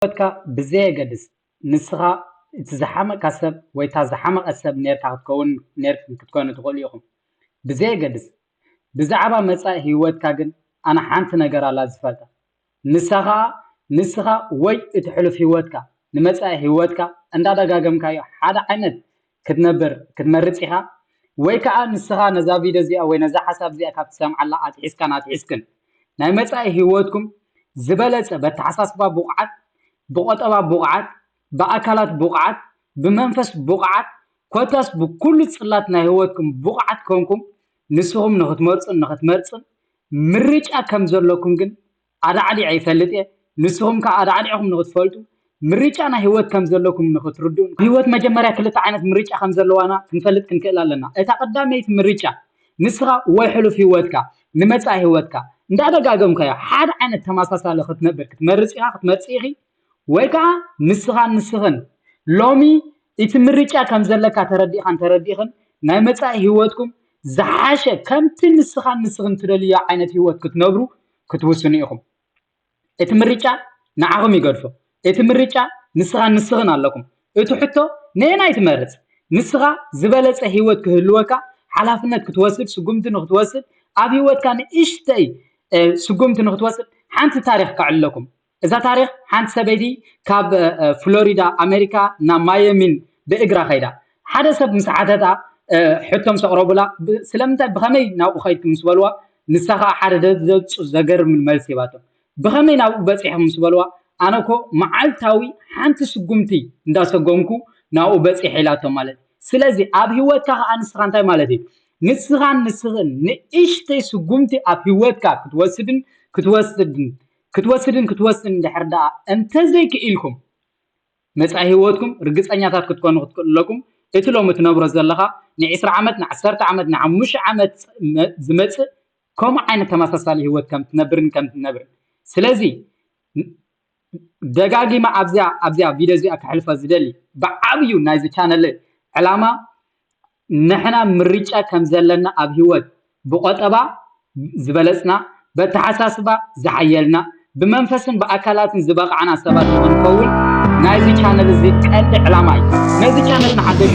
ሂወትካ ብዘየገድስ ንስኻ እቲ ዝሓመቅካ ሰብ ወይ እታ ዝሓመቀት ሰብ ኔርካ ክትከውን ኔርክን ክትኮኑ ትኽእሉ ኢኹም ብዘየገድስ ብዛዕባ መጻኢ ሂወትካ ግን ኣነ ሓንቲ ነገር ኣላ ዝፈልጣ ንሳ ኸኣ ንስኻ ወይ እቲ ሕሉፍ ሂወትካ ንመጻኢ ሂወትካ እንዳደጋገምካዮ ሓደ ዓይነት ክትነብር ክትመርጽ ኢኻ ወይ ከኣ ንስኻ ነዛ ቪድዮ እዚኣ ወይ ነዛ ሓሳብ እዚኣ ካብ ትሰምዓላ ኣትሒዝካን ኣትሒዝክን ናይ መጻኢ ህይወትኩም ዝበለጸ በተሓሳስባ ብቑዓት ብቆጠባ ብቑዓት ብኣካላት ብቑዓት ብመንፈስ ብቑዓት ኮታስ ብኩሉ ጽላት ናይ ህይወትኩም ብቑዓት ኮንኩም ንስኹም ንኽትመርጹን ንኽትመርጽን ምርጫ ከም ዘለኩም ግን ኣዳዕዲዐ ይፈልጥ እየ። ንስኹም ከኣ ኣዳዕዲዕኩም ንኽትፈልጡ፣ ምርጫ ናይ ህይወት ከም ዘለኩም ንኽትርድኡን ህይወት መጀመርያ ክልተ ዓይነት ምርጫ ከም ዘለዋና ክንፈልጥ ክንክእል ኣለና። እታ ቀዳመይቲ ምርጫ ንስኻ ወይ ሕሉፍ ህይወትካ ንመጻኢ ህይወትካ እንዳደጋገምካዮ ሓደ ዓይነት ተመሳሳሊ ክትነብር ክትመርጽ ኢኻ ክትመርጺ ኢኺ ወይ ከኣ ንስኻን ንስኽን ሎሚ እቲ ምርጫ ከም ዘለካ ተረዲእኻን ተረዲእኽን ናይ መጻኢ ህይወትኩም ዝሓሸ ከምቲ ንስኻን ንስኽን ትደልዮ ዓይነት ህይወት ክትነብሩ ክትውስኑ ኢኹም። እቲ ምርጫ ንዓኹም ይገድፎ። እቲ ምርጫ ንስኻን ንስኽን ኣለኩም። እቲ ሕቶ ነየናይ ትመርጽ? ንስኻ ዝበለጸ ህይወት ክህልወካ ሓላፍነት ክትወስድ፣ ስጉምቲ ንኽትወስድ፣ ኣብ ህይወትካ ንእሽተይ ስጉምቲ ንኽትወስድ ሓንቲ ታሪኽ ከዕልለኩም። እዛ ታሪኽ ሓንቲ ሰበይቲ ካብ ፍሎሪዳ ኣሜሪካ ናብ ማየሚን ብእግራ ከይዳ ሓደ ሰብ ምስ ሓተታ ሕቶ ምስ ኣቕረቡላ ስለምንታይ ብኸመይ ናብኡ ከይድኩም ምስ በልዋ ንሳ ከዓ ሓደ ዘብፁ ዘገርምን መልሲ ሂባቶም ብኸመይ ናብኡ በፂሕኹም ምስ በልዋ ኣነ እኮ መዓልታዊ ሓንቲ ስጉምቲ እንዳሰጎምኩ ናብኡ በፂሐ ኢላቶም ማለት እዩ ስለዚ ኣብ ሂወትካ ከዓ ንስኻ እንታይ ማለት እዩ ንስኻን ንስኽን ንእሽተይ ስጉምቲ ኣብ ሂወትካ ክትወስድን ክትወስድን ክትወስድን ክትወስን እንድሕር ደኣ እንተዘይክኢልኩም፣ መጻኢ ህይወትኩም ርግጸኛታት ክትኮኑ ክትክእሉ ኣለኩም። እቲ ሎሚ ትነብሮ ዘለኻ ንዒስራ ዓመት፣ ንዓሰርተ ዓመት፣ ንሓሙሽተ ዓመት ዝመጽእ ከምኡ ዓይነት ተመሳሳሊ ህይወት ከም ትነብርን ከም ትነብርን። ስለዚ ደጋጊመ ኣብዚኣ ኣብዚኣ ቪድዮ እዚኣ ከሕልፋ ዝደሊ ብዓብዩ ናይዚ ቻነለይ ዕላማ ንሕና ምርጫ ከም ዘለና ኣብ ህይወት ብቖጠባ ዝበለጽና፣ በተሓሳስባ ዝሓየልና፣ ብመንፈስን ብኣካላትን ዝበቓዕና ሰባት ንኽንከውን ናይዚ ቻነል እዚ ቀንዲ ዕላማ እዩ። ነዚ ቻነል ንሓደሽ